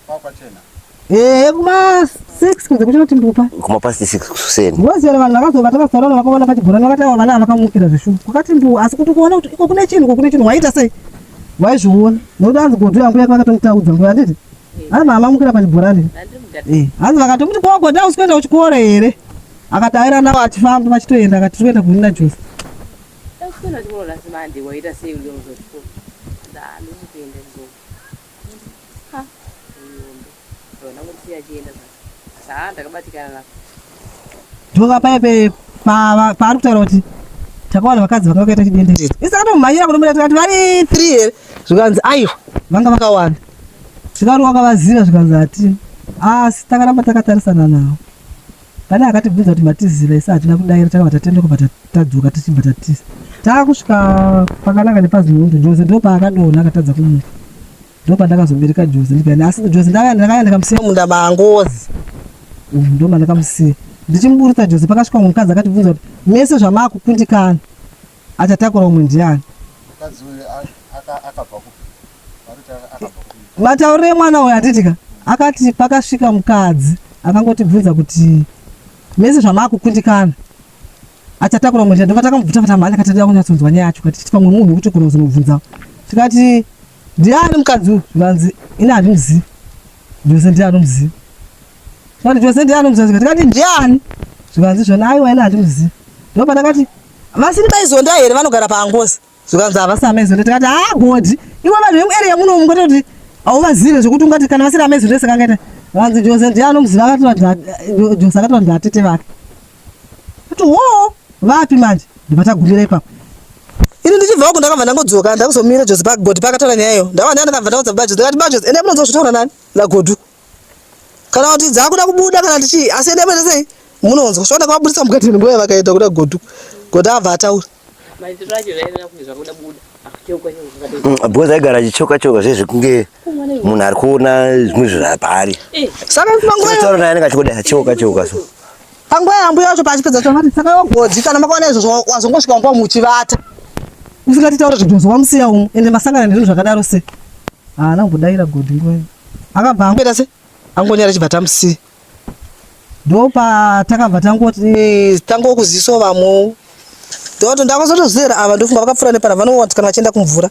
ehe kuma six kunze kuchinoti mbupa kuma past six kuseni ngoziva vanhu vakazoba takazorona vakaona pachibhorani vakati ava vana vakamukira zveshuwa kwakati mbu asi kuti kuona kuti iko kune chinhu ko kune chinhu waita sei waizviona nokuti anzi godo yangu yake vakatomutaudza ngo handiti hanzi mama mukira pachibhorani eh, hanzi vakatomuti ko godo ausi kuenda kuchikoro here akataira navo achifamba vachitoenda akati tiri kuenda kunina jose Takuswera chikoro last Monday waita sei uri kuda kuzoenda chikoro? Ndaa ndiri kuenda chikoro. Ha, uyombe. Ndona kusiya chienda sasa. Sasa ndakabatikana na. Ndoka pepe pa paari kutaura kuti takawana vakadzi vanga vakaita chidenderero. Isa katomhanyira kunomuda tikati vari 3 here? Zvikanzi aiwa vanga vakawanda. Zvikanzi wakavaziva zvikanzi ati asi takaramba takatarisana navo. Pane akatibvunza kuti matiziva isu hatina kudaira takabva tatenda kubva tadzoka tichibva tatiza. Taakusvika pakananga nepazimundo Joze ndopaakadona akatadza kumuka. Ndopandakazobereka Joze ndikani asi Joze ndakaya ndakamusiya munda maangozi. Umm ndoma ndakamusiya. Ndichimuburitsa Joze pakasvika mukadzi akatibvunza kuti mese zvamaakukundikana. Achatakura umwe ndiani? Mukadzi uyu akabva kupi? Matauriro emwana uyu hatitika akati pakasvika mukadzi akangotibvunza kuti mese zvamakukundikana achatakura mweya ndobva takamubvuta kuti amhanya kati tida kunyatsonzwa nyaya yacho kati pamwe munhu wekuti kona kuzomubvunzawo tikati ndiani mukadzi uyu zvikanzi ini handimuzivi jose ndiye anomuziva tikati jose ndiye anomuziva zvikanzi tikati ndiani zvikanzi zvona aiwa ini handimuzivi ndobva takati Vasini vaizonda here vanogara paangozi zvikanzi havasi amezonda tikati haa godhi iwe vanhu vemuarea muno mungoti kuti hauvazive zvekuti ungati kana vasiri amezonda sekangaita vanzi jose ndiye anomuziva akatoa jose akatoa ndivatete vake kuti hoo vapi manje ndivatagumira ipapo ini ndichibvawo kundakabva ndangodzoka ndakuzomira jose pagodhi pakataura nyaya iyo ndakabva ndandakabva ndaudza bajos ndakati bajos ende munonzwa zvitaura nani nagodhu kana kuti dzakuda kubuda kana kuti chii asi ende pete sei munonzwa svaona kavaburitsa mukati nguva yavakaita kuda godu godu abva ataura mm, because aigara achichoka choka zve zvekunge munhu ari kuona zvimwe zvinhu paari eh. saka panguva taura naye anenge achikoda achoka choka so panguva yambuya yacho paachipedza chomati saka wagodzi kana makaona izvozvo wazongosvika nguva muchivata musingatitaura zvibvunzo wamusiya umu ende masangana nezvinhu zvakadaro sei haana kumbodaira godhi nguva akabva angoita se angonyara chibva tamusi ndopa takabva tangoti eh, tangokuziso vamwewo ndoto ndakazotozera ava ndofunga vakapfura nepana vanowati kana vachienda kumvura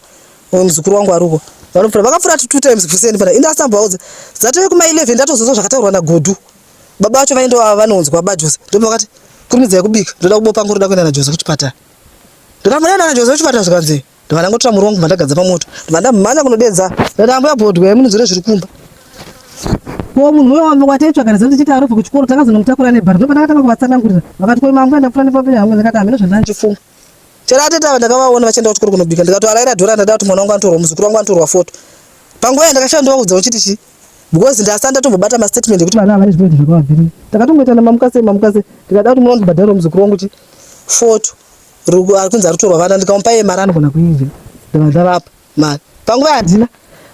muzukuru wangu aruko vanopfura vakapfura two times kuseni pana inde asambaudza dzatove kuma 11 ndatozozwa zvakataurwa nagodu baba vacho vainda vava vanonzwa baba jose ndopa vakati kurumidzai kubika ndoda kubopa nguri ndoda kuenda najoze kuchipatara ndakambonenda najoze kuchipatara zvikanzi ndobva ndangotora muri wangu mandagadza pamoto ndobva ndamhanya kunodedza ndambuya bhodwa yamunonzwira zviri kumba ko munhu uyo wamva wataitsvaga nezano tichiti arobva kuchikoro takazonomutakura nebhari ndopa ndakatanga kuvatsanangurira vakati ko mambo andakufura nepapenya hangu ndakati hamina zvandandichifunga chero atete ava ndakavaona vachienda kuchikoro kunobika ndikatoaraira dhora ndada kuti mwana wangu anotorwa muzukuru wangu anotorwa foto panguva yandakashaya ndovaudza uchiti chii because ndasa ndatombobata mastatement ekuti vana havane zvipointi zvakavabvirira takatongoitana mamukase mamukase ndikada kuti munondibhadhara muzukuru wangu chi foto Rugo arikunzi arutorwa vana ndikamupa iye mari anogona kuidya ndava ndavapa mari panguva yandina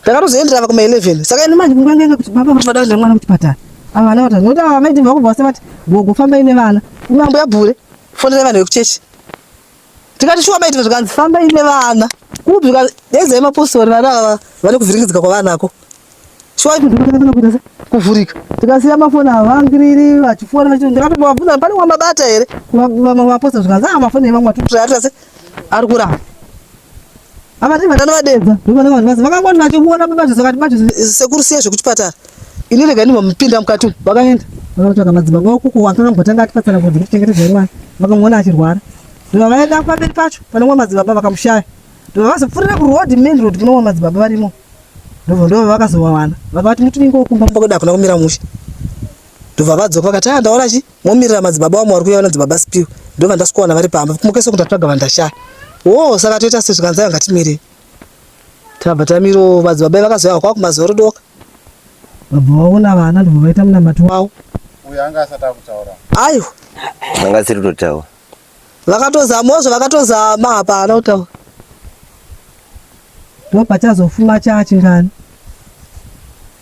ndakatozoenderava kuma 11 saka ini manje nguva ngenge kuti baba vanoda kuenda mwana kuchipatara ava vana vatatu nokuti ava vamaiti vakubva vase vati gogo fambai nevana mambo yabhure fonera vanhu vekuchechi tikati shuwa maiti zvikanzi fambai nevana kupi zvikanzi dezai mapostori vana ava vane kuvhiringidzika kwavanako kuvhurika tikasiya mafoni havangiriri vachifona vachindiratovabvunza pane wamabata here vamaposta zvikanzi a mafoni evamwe atiutiraatirase ari kuramba avati vatano vadedza vakangoti vachiona sekuru siya zvekuchipatara ini rega ndimamupinda mukati umu vakaenda vakatsvaga madzimba kwavo kuko wakangambotanga atipatsana kuti ndichengetedza imwana vakamuona achirwara ndovavaenda pamberi pacho pane wamadzibaba vakamushaya ndovavazopfurira kuroad main road kuno wamadzibaba varimo ndobva ndova vakazovawana vakavati muti unenge wokumba mumba kwedu hakuna kumira mushe ndobva vadzoka vakati a ah, ndaona chi momirira madzibaba wamwe wari kuya vanadzibaba spiwe ndobva ndasikuwana vari pamba kumukese kundatsvaga vandashaya wo saka toita se zvikanzai vangatimire tabva tamiro madzibaba vakazoya kwava kumazuva rodoka vabva vaona vana ndobva vaita munamati wavo uyo anga asati akutaura aiwa anga asiri kutotaura Vakatozama ozvo vakatozama hapana kutaura. Ndipo pachazofuma chachi ngani.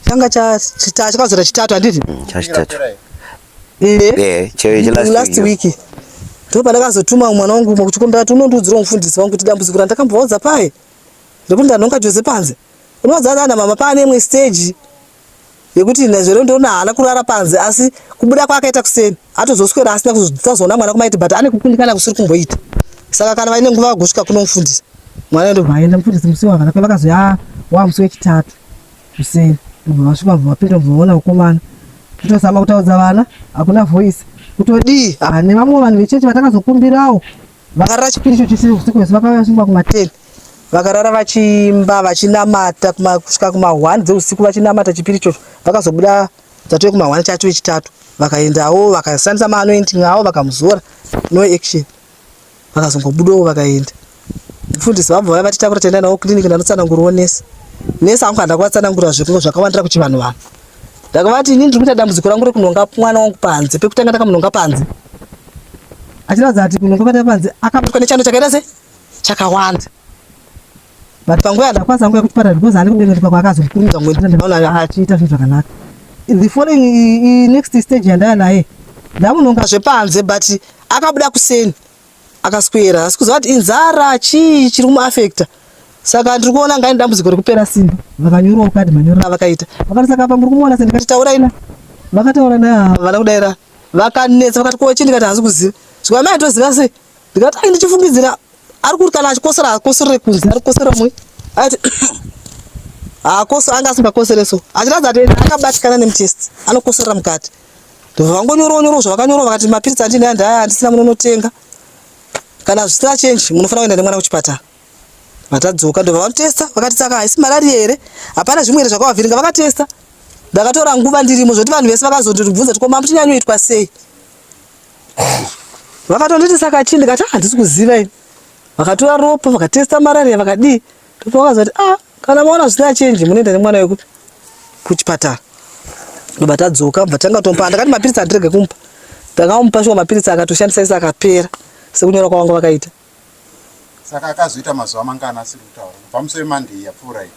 Changa cha chita chakazora chitatu anditi? Mm, cha chitatu. Eh. Eh, che last, last week. week. Ndipo pandakazotuma mwana wangu mwa kuchikombera tuno ndudziro mfundisi wangu kuti dambudziko randakambovaudza paye. Rekuti ndanonga Jose panze. Unozaza na mama pane imwe stage. yekuti Nazvero ndoona haana kurara panze asi kubuda kwaakaita kuseni atozoswera asina kuzoona mwana kumaiti but ane kukundikana kusiri kumboita saka kana vaine nguva vagosvika kunomufundisa mwana ndobva aenda mufundisi musi wavana kwe vakazoya ah, wa musi wechitatu kuseni ndobva vasvika bva vapinda bva vaona mukomana totozama kutaudza vana hakuna voice kutodii ah, nevamwe vanhu vechechi vatakazokumbirawo Vakarara chipiri icho chese usiku hwese vakauya vasvika kuma 10 vakarara vachiimba vachinamata kusvika kuma 1 dzeusiku vachinamata chipiri ichocho vakazobuda dzatove kuma 1 chatu vechitatu vakaendawo vakashandisa maanointing avo vakamuzora no action vakazongobudawo vakaenda mufundisi vabva vaya vatitakura taenda navo clinic ndanotsanangurwo nesi nesi angu handakatsanangura zvekungo zvakawandira kuchivanhu vanhu Ndakavati inini ndiri kuita dambudziko rangu rekunhonga mwana wangu panze. Pekutanga ndakamunhonga panze. Achiratidza kuti kunhonga kwata panze akabatwa nechando chakaita se chakawanda. But panguva yandakwanisa nguva yekuchipatara because handiko kudenga kuti pakwa akazokurumidza ngoendera ndakaona achiita zvinhu zvakanaka. The following next stage yandaya naye ndamunhonga zvepanze but akabuda kuseni. akaswera asi kuziva kuti inzara chii chiri kumuafekta saka ndiri kuona ngaine dambudziko rekupera simba vakanyorwa kukadi manyorero avakaita vakati saka apa muri kumuona se ndikati taura ina vakataura na vana kudaira vakanetsa vakati ko chii ndikati hazi kuziva zvika mai toziva sei ndikati ai ndichifungidzira ari kuti kana achikosera hakoserere kunze ari kukosera mwe aiti hakoso anga asingakosere so achiratidza kuti akabatikana nemutesti anokoserera mukati vangonyorawo nyorawo zvavakanyorawo vakati mapiritsi andine andi aya andisina munonotenga kana zvisina change munofanira kuenda nemwana kuchipatara vatadzoka ndobva vatesta vakati saka haisi marari here hapana zvimwe here zvakavavhiringa vakatesta ndakatora nguva ndirimo zvoti vanhu vese vakazondiribvunza kuti koma mutinyanyoitwa sei vakatonditi saka chii ndikati handisi ah, kuziva ini vakatora ropa vakatesta marari yavakadii Toto akazati ah kana maona zvisina change munoenda nemwana wekupi kuchipatara ndobva tadzoka bva tanga tomupa ndakati mapiritsi andirege kumupa ndakamupa shuwa mapiritsi akatoshandisa ese akapera sekunyora kwavanga vakaita saka akazoita mazuva mangana asiri kutaura kubva musi wemande yapfuura iyi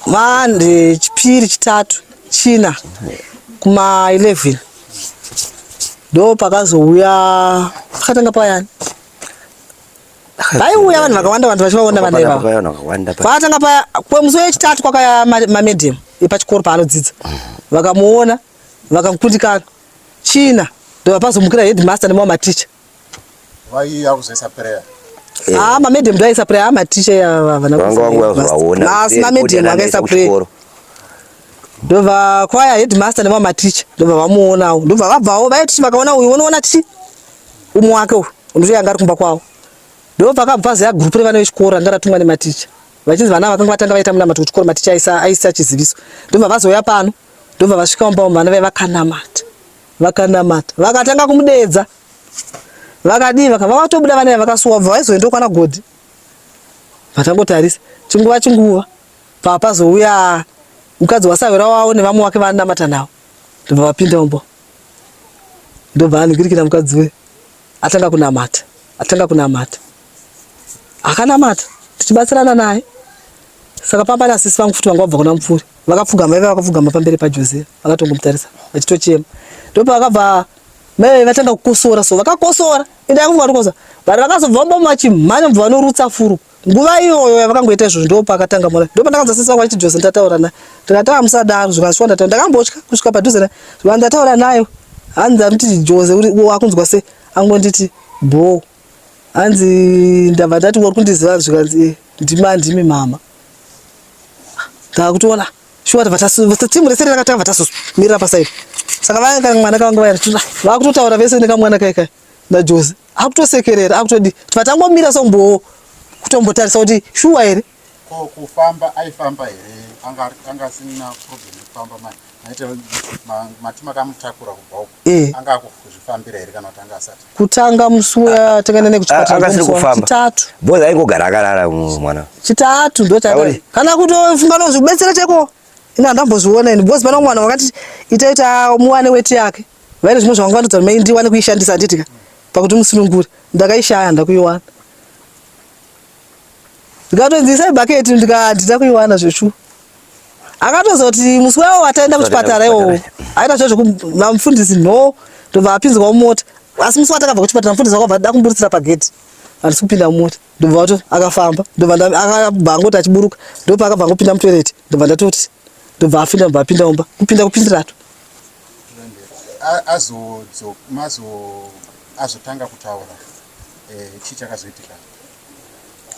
mande chipiri chitatu china kuma 11 ndo pakazouya pakatanga payani vaiuya vanhu vakawanda vanhu vachivaona vana ivava kwatanga paya kwemusi wechitatu kwakaya mamedium epachikoro paanodzidza vakamuona vakamukundikana china ndovapazomukira headmaster nemamwe maticha haa mamedium ndoaisa prayer haa maticha yavanaasi mamedium akaisa prayer ndobva kwaya headmaster nemamwe maticha ndobva vamuonawo ndobva vabvawo vaiti vakaona uyu unoona tichi umwe wake uyu unotoya anga ari kumba kwavo ndo pakabva ziya gurupu revana vechikoro ranga ratumwa nematicha vachinzi vana vakanga vatanga vaita munamato kuchikoro maticha aisa chiziviso ndobva vazouya pano ndobva vasvika mumba umu vana vai vakanamata vakanamata vakatanga kumudeedza vakadii vakatobuda vana vakasuwa bva vaizoenda kwana godhi vatangotarisa chinguva chinguva papazouya mukadzi wasawira wavo nevamwe wake vanamata navo ndobva vapinda mumba ndobva anhikirikira mukadzi we atanga kunamata atanga kunamata akanamata tichibatsirana naye saka pamba nasisi vangu futi vanga vabva kuna mupfuri vakapfugama ive vakapfugama pamberi pajose vakatongomutarisa vachitochema ndopa vakabva mai vatanga kukosora so vakakosora ende yakufunga kuti kosa but vakazobva vambomachimhanya mubva vanorutsa furu nguva iyoyo yavakangoita izvozvo ndo pakatanga mona ndo pandakanza sisi vangu vachiti jose ndataura naye ndikati amusadaro zvikasvika ndataura ndakambotya kusvika padhuze naye zvika ndataura nayo hanzi amuti jose wakunzwa se angonditi bho hanzi ndabva ndati wari kundiziva zvikanzi eh, ndimi andimi mama ndakutoona shuwa tava tatimu rese rakatanga vatazomirira pasaidi saka vanga mwana kavanga vayakutotaura vese nekamwana kaikai naJoze akutosekerera akutodi vatangomira sombowo kutombotarisa kuti shuwa here ko kufamba aifamba here anga anga asina problem yekufamba manje maita mati makamutakura kubva uko eh. anga akuzvifambira here kana kuti anga asati kutanga musi uya ah, takaenda nekuchipatachitatu ah, boza aingogara akarara mwana chitatu ndo kana kutofunga nozvibetsera cheko ini handambozviona ini bozi pano mwana wakati itaita muwane weti yake vaine zvimwe zvavangandudza mai ndiwane kuishandisa handiti ka pakuti musunungure ndakaishaya handa kuiwana ndikatonzisa ibhaketi ndikandida kuiwana zveshuwa akatozoti musi wawo wataenda kuchipatara iwowo aita zvo zvekumafundisi no ndobva apinzwa mumota asi musi watakabva kuchipatara mufundisi wakabva da kumburitsira pagedhi handisi kupinda mumota ndobva wato akafamba ndobvaakabva angoti achiburuka ndopaakabva angopinda mutoireti ndobva ndatoti ndobva afinda ndobva apinda mumba kupinda kupindirato azotanga kutaura eh, chii chakazoitika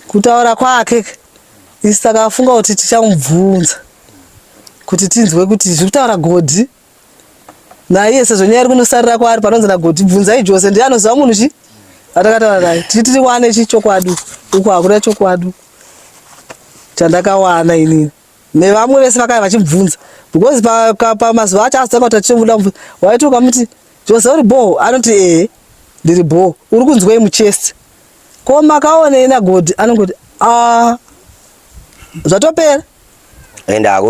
kutaura kwake isi takafunga kuti tichamubvunza kuti tinzwe kuti zviri kutaura godhi naiye sezvo nyaya iri kunosarira kwaari panonzi nagodhi bvunzai jose ndiye anoziva munhu chi atakataura naye tiri tiri wane chi chokwadi uku hakuna chokwadi chandakawana inini nevamwe vese vakaya vachimubvunza because pamazuva pa, acho asitanga kuti achimuda mubvunza waiti ukamuti jose uri bhoo anoti ee ndiri bhoo uri kunzwei muchest ko makaonei nagodi anongoti a zvatopera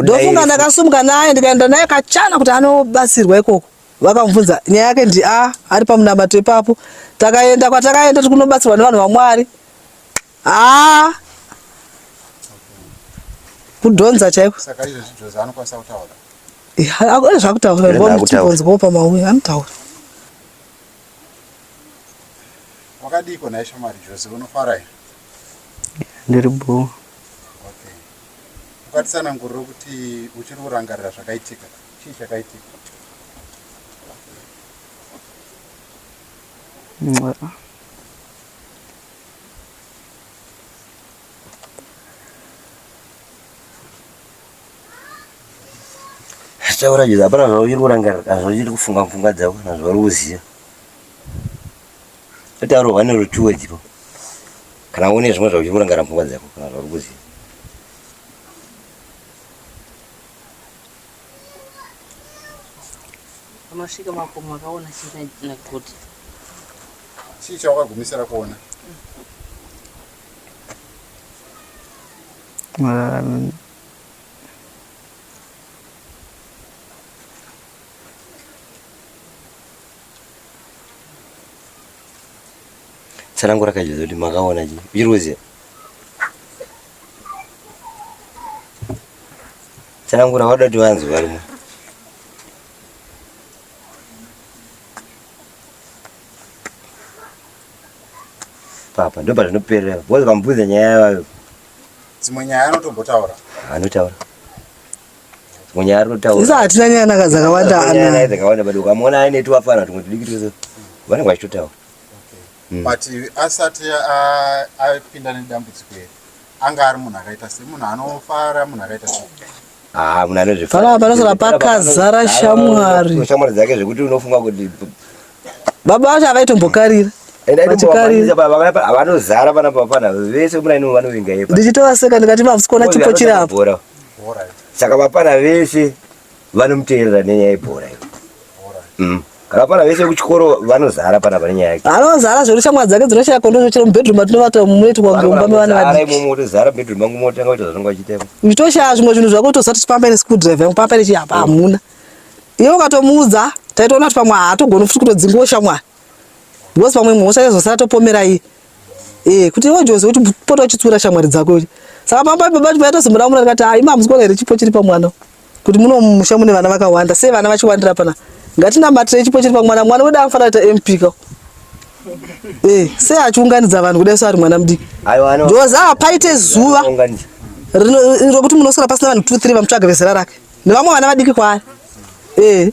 ndofunga ndakasumuka naye ndikaenda naye kachana kuti anobatsirwa ikoko vakamubvunza nyaya yake ndi a ari pamunamato ipapo takaenda kwatakaenda tiri kunobatsirwa nevanhu vamwari Haa kudhonza chaiko saka izvo zvidhonza anokwanisa kutaura eh, zvakutaura ndibonzwawo pamauya anotaura wakadiiko naye shamari jose unofara here ndiri bho okay ukatisanangurira kuti uchiri kurangarira zvakaitika chii chakaitika zvichakuratidzira hapana zvauchiri kurangarira kana zvauchiri kufunga pfungwa dzako kana zvauri kuziva kuti arohwa nerutuwe dzipo kana une zvimwe zvauchiri kurangarira pfungwa dzako kana zvauri kuziva Unosvika makomo akaona chii naGoti? Chii chawakagumisira kuona? Mararami. Tsanangura kaizvozvo kuti makaona chii? Uchiri kuziva? Tsanangura wada kuti vanzwe varimo. Papa ndopa zvinoperera. Bozi vambudza nyaya yavayo. Dzimwe nyaya anotombotaura. Anotaura. Dzimwe nyaya anotaura. Sisi hatina nyaya naka dzakawanda ana. Nyaya dzakawanda bado ukamona aine tuwafana tumwe tudiki twese. Vanenge vachitotaura. But asati apinda nedambudziko iri anga ari munhu akaita sei munhu anofara munhu akaita sei ah, munhu anozvifara panosara pakazara shamwari shamwari dzake zvekuti unofunga kuti baba vacho avaitombokarira vanozara pana papana vese muraini vanovinga ipa ndichitovaseka ndikati mavsikona chipo chiri apo saka vapana vese vanomuteerera nenyaya yebhora iyo mm. akapana vese kuchikoro vanozara pana pane nyaya yake anozara zvekuti shamwari dzake dzinoshaya kondo zvochera mubedroom atinovata munoiti kwange mumba mevana vadiki imomo utozara mubedroom mangu motanga kuita zvaunenge wachitema nditoshaya zvimwe zvinhu zvako utoziva kuti pamene school drive yangu pamene chii apa hamuna iye ukatomuudza taitoona kuti pamwe haatogoni futi kutodzingiwo shamwari because pamwe imwe hosha yaizosara topomera iye ee eh, kuti iwe jozi kuti pota uchitsura shamwari dzako saka pamba baba vaitozimura mura ndikati ha ima hamusi kuona here chipo chiri pamwana kuti muno mumusha mune vana vakawanda sei vana vachiwandira pana ngatinamatire chipo chiri pamwana mwana wedu anofanira kuita mp ka eh, sei achiunganidza vanhu kudai so ari mwana mudiki ndoza hapaite zuva rokuti munosara pasina vanhu two three vamutsvaga vezera rake nevamwe vana vadiki kwaari ee eh.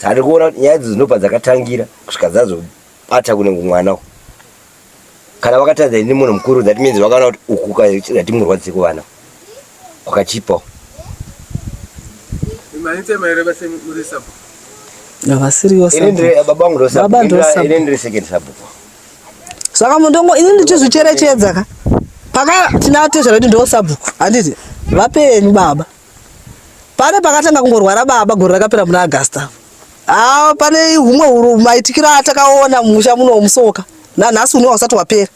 Tari kuona kuti nyaya idzo dzinobva dzakatangira kusvika dzazobata kunenge mwana uku. Kana vakatadza ini munhu mukuru that means vakaona kuti uku ukati murwadzise kuvana kwakachipawo. Havasiriyo baba ndosababa second sabhuku. Saka mundongo ini ndichizvicherechedza ka. Paka tinatezvara kuti ndosabhuku handiti vapenyu baba. Pane pakatanga kungorwara baba gore rakapera muna August apo. Ah, pane humwe huru maitikiro atakaona mumusha muno musoka. Nanhasi uno hausati wapera.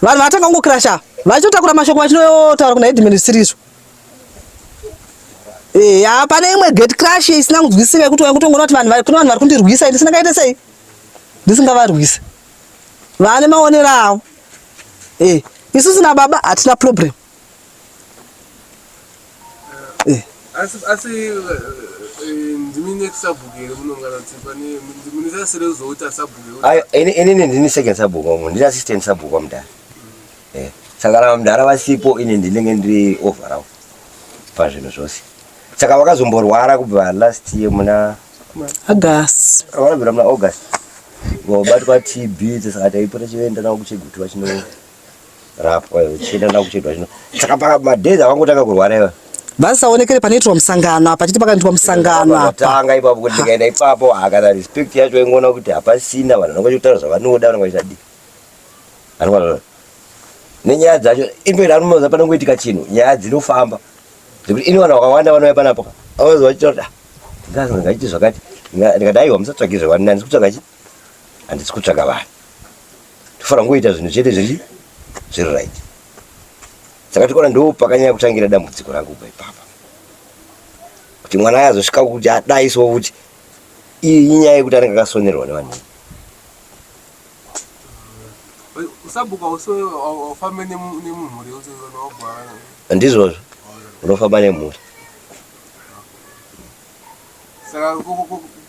Vanhu vatanga kungokirasha vachotakura mashoko vachinotaura kuna headman zvisirizo. Eh, ya pane imwe gate crash isina kunzwisisika yekuti wakutongoona kuti vanhu vari kuna vanhu vari kundirwisa ini singakaite sei? Ndisingavarwise. Vane maonero avo. Eh, isusu na baba hatina problem. asi asi ndimi next sabhuku here munongana kuti pane mune zasi rezooti asabhuku inini ndini second sabhuku wamwe ndini assistant sabhuku wamudhara eh, saka kana vamudhara vasipo ini ndinenge ndiri overall pazvinhu zvose saka vakazomborwara kubva last year muna august vakabvira muna august vabatwa tb saka taipota chienda navo kuchegutiwa chino rapwa iwe chienda na kuchidwa chino saka pa madhezi avangotanga kurwara iwe vasaonekere panoitirwa musangano apa chiti pakaitwa musangano apa tanga ipapo kuti ndikaenda ipapo akana respect yacho ingoona kuti hapasina vanhu vanenge vachitaura zvavanoda vanenge vachitadii anokwana nenyaya dzacho imperi anomaza panongoitika chinhu nyaya dzinofamba zvekuti ini vanhu vakawanda vanouya panapo avazoa chitaura ah, ndingazi ndingaiti zvakati ndikati aiwa musatsvage zvevani handisi kutsvaga chi handisi kutsvaga vanhu Tofara ngoita zvinhu chete zviri zviri right. Saka tikona ndo pakanyanya kutangira dambudziko rangu kubva ipapa. Kuti mwana aya azosvika kuti adai so kuti iyi inyaya yekuti anenge akasonerwa nevanhu. Usabuka uso ufambe nemumhuri uso unogwara. Ndizvozvo. Unofamba nemhuri. Saka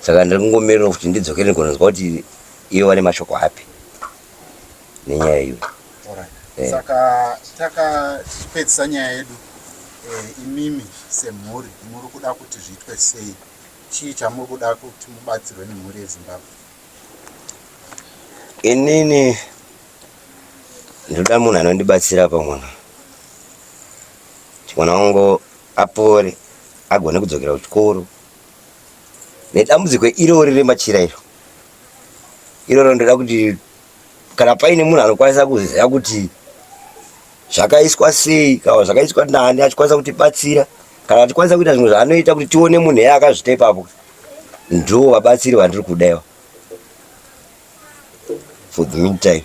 saka ndiri kungomirira kuti ndidzokere ndigononzwa kuti ivo vane mashoko api nenyaya iyo eh. saka takapedzisa nyaya yedu eh, imimi semhuri muri kuda kuti zviitwe sei chii chamuri kuda kuti mubatsirwe nemhuri yezimbabwe inini ndoda munhu anondibatsira pamwana mwana wangu apore agone kudzokera kuchikoro nedambudziko irori remachira iro iroro ndoda kuti kana paine munhu anokwanisa kuziva kuti zvakaiswa sei kana zvakaiswa nani achikwanisa kutibatsira kana achikwanisa kuita zvimwe zvaanoita kuti tione munhu eye akazvita ipapo ndo vabatsiri vandiri kudaiwa for the meantime